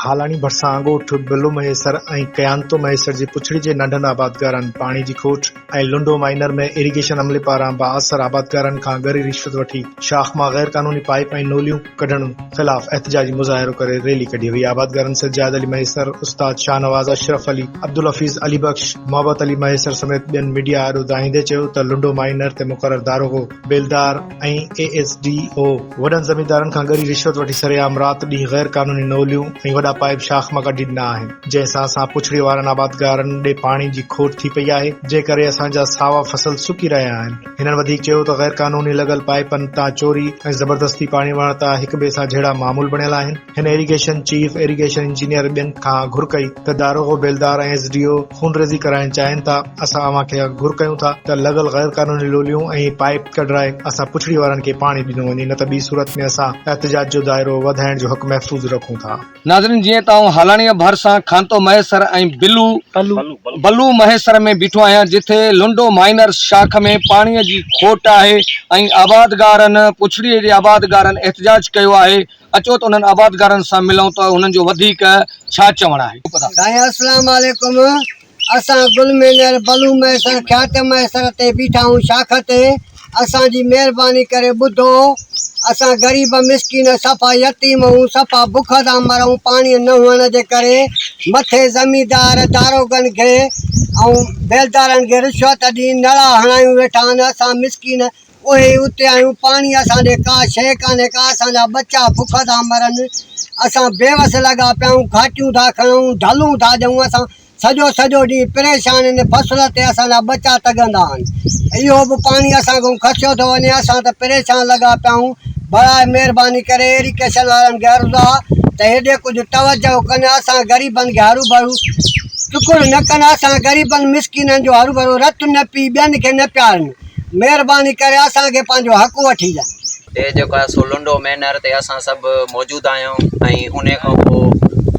هالاڻي ڀرسان اڳوٺ بلو مهيسر ۽ ڪيانتو مهيسر جي پڇڙي جي ننڍن آبادگارن پاڻي جي کوٽ ۽ لنڊو مائنر ۾ اريگيشن عملي پاران بااثر آبادگارن کان ڳري رشوت وٺي شاخ مان غير قانوني پائيپ ۽ نوليون ڪڍڻ خلاف احتجاجي مظاهرو ڪري ريلي ڪڍي وئي آبادگارن سجاد علي مهيسر، استاد شاهنواز اشرف علي، عبدالحفيظ علي بخش، محبت علي مهيسر سميت ٻين ميڊيا آڏو دانهيندي چيو ته لنڊو مائينر تي مقرر داروغو، بيلدار ۽ اي ايس ڊي او وڏن زميندارن کان ڳري رشوت وٺي سرعام رات ڏينهن غير قانوني نوليون ۽ وڏا پائيپ شاخ مان ڪڍي ڏنا آهن جنهن سان اسان پڇڙي وارن آبادگارن ڏي پاڻي جي کوٽ ٿي پئي آهي جنهن ڪري اسان جا ساوا فصل سڪي رهيا آهن. هنن وڌيڪ چيو ته غيرقانوني لڳل پائيپن تان چوري ۽ زبردستي پاڻي وهڻ ته هڪ ٻئي سان جهڙا معمول بڻيل آهن، هن ايريگيشن چيف، ايريگيشن انجنيئر ٻين کان گهر ڪئي ته داروغو بيلدار ۽ ايس ڊي او خونريزي ڪرائڻ چاهين ٿا، اسان اوهان کي اڳ گهر ڪيون ٿا ته لڳل غيرقانوني لوليون ۽ پائيپ ڪڍرائي اسان پڇڙي وارن کي پاڻي ڏنو وڃي نه ته ٻي صورت ۾ اسان احتجاج جو دائرو وڌائڻ جو حق محفوظ رکون ٿا. ناظرين جيئن ته آئون هالاڻيء ڀر سان کانتو مهيسر ۽ بلو بلو مهيسر ۾ بيٺو آهيان جتي لنڊو مائنر شاخ ۾ پاڻيء جي کوٽ آهي ۽ آبادگارن پڇڙيء جي آبادگارن احتجاج ڪيو آهي اچو ته انهن آبادگارن سان ملون ته انهن جو وڌيڪ ڇا چوڻ آهي. اسلام عليڪم اسان گل مينگر، بلو مهيسر، خياطه مهيسر تي بيٺا آهيون شاخ تي، اسان جي مهرباني ڪري ٻڌو، اسان غريب مسڪين صفا يتيم آهيون، صفا بک تان مرون، پاڻي نه هئڻ جي ڪري مٿي زميندار، داروغن کي ۽ بيلدارن کي رشوت ڏئي نڙا هڻايون ويٺا آهن، اسان مسڪين اهي ئي اتي آهيون، پاڻي اسان ڏي ڪا شيء ڪانهي، ڪا اسان جا ٻچا بک ٿا مرن، اسان بيوس لڳا پيا آهيون، گهاٽيون ٿا کڻون، ڍلون ٿا ڏيون، اسان سڄو سڄو ڏينهن پريشان ان فصل تي اسان جا ٻچا تڳندا آهن، اهو به پاڻي اسان کان کسيو ٿو وڃي، اسان ته پريشان لڳا پيا آهيون، براء مهرباني ڪري ايريڪيشن وارن کي عرض آهي ته هيڏي ڪجهه توجهه ڪن، اسان غريبن کي هروڀرو ٽڪڙ نه ڪن، اسان غريبن مسڪينن جو هروڀرو رت نه پي ٻين کي نه پيارن. مهرباني ڪري اسان کي پنهنجو حق وٺي ڏين. تي جيڪو آهي سو لنڊو مينر تي اسان سڀ موجود آهيون ۽ انهي کان پوء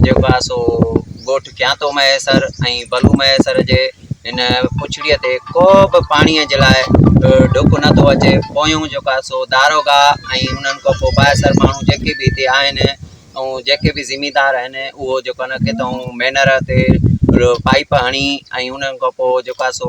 جيڪو آهي سو ڳوٺ کيانتو مهيسر ۽ بلو مهيسر جي هن پڇڙيء تي ڪو به پاڻيء جي لاء ڍڪ نه ٿو اچي پويون جيڪو آهي سو داروغا ۽ انهن کان پوء بااثر ماڻهو جيڪي به هتي آهن ۽ جيڪي به زميندار آهن اهو جيڪو آهي ڪٿئون مينر تي پائيپ هڻي ۽ انهن کان پوء جيڪو آهي سو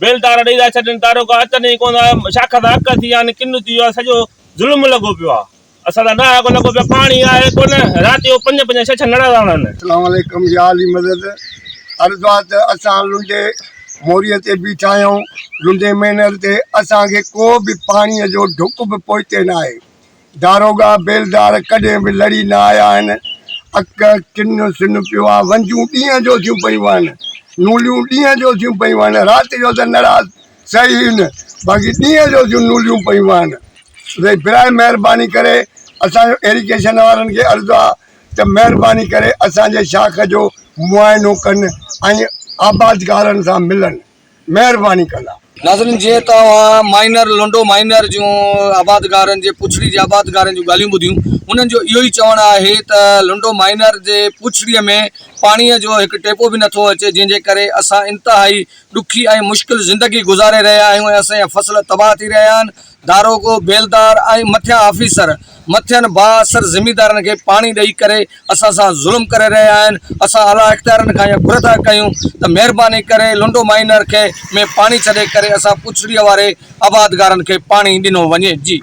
بيل تارا ڏئي ٿا ڇڏين، تاروڪا اچن ئي ڪونه ٿا، شاخ ٿا اڪ ٿي ويا آهن، ڪنو ٿي ويو آهي، سڄو ظلم لڳو پيو آهي، اسان سان ڏاهاڪو لڳو پيو آهي، پاڻي آهي ڪونه، رات جو پنج پنج ڇهه ڇهه نڙا ٿا هڻن. اسلام عليڪم يا علي مدد عرض آ ته اسان لنڊي موريء تي بيٺا آهيون، لنڊي مينر تي اسان کي ڪو به پاڻيء جو ڍڪ به پوئتي ناهي، داروغا بيلدار ڪڏهن به لڙي نه آيا آهن، اک ڪن سن پيو آ، ونجون ڏينهن جو ٿيون پيون آهن، نوليون ڏينهن جو ٿيون پيون آهن، رات جو ته نڙاس سهي ئي نه، باقي ڏينهن جو ٿيون نوليون پيون آهن. اٿي براهه مهرباني ڪري اسان جو ايريگيشن وارن کي عرض آ ته مهرباني ڪري اسان جي شاخ جو معائنو ڪن ۽ آبادگارن سان ملن. مهرباني ڪندا. ناظرين جيئن ته اوهان مائنر لنڊو مائنر جون آبادگارن جي پڇڙي جي آبادگارن جون ڳالهيون ٻڌيون انهن جو اهو ئي چوڻ آهي ته لنڊو مائنر جي پڇڙي ۾ پاڻي جو هڪ ٽيپو به نٿو اچي جنهن جي ڪري اسان انتهائي ڏکي ۽ مشڪل زندگي گذاري رهيا آهيون ۽ اسان جا فصل تباهه ٿي رهيا آهن داروغو، بيلدار ۽ مٿيان آفيسر مٿين بااثر زميندارن کي پاڻي ڏئي ڪري اسان سان ظلم ڪري رهيا آهن، اسان اعليٰ اختيارن کان اها گهر ٿا ڪيون ته مهرباني ڪري لنڊو مائينر کي ۾ پاڻي ڇڏي ڪري اسان پڇڙيء واري آبادگارن کي پاڻي ڏنو وڃي.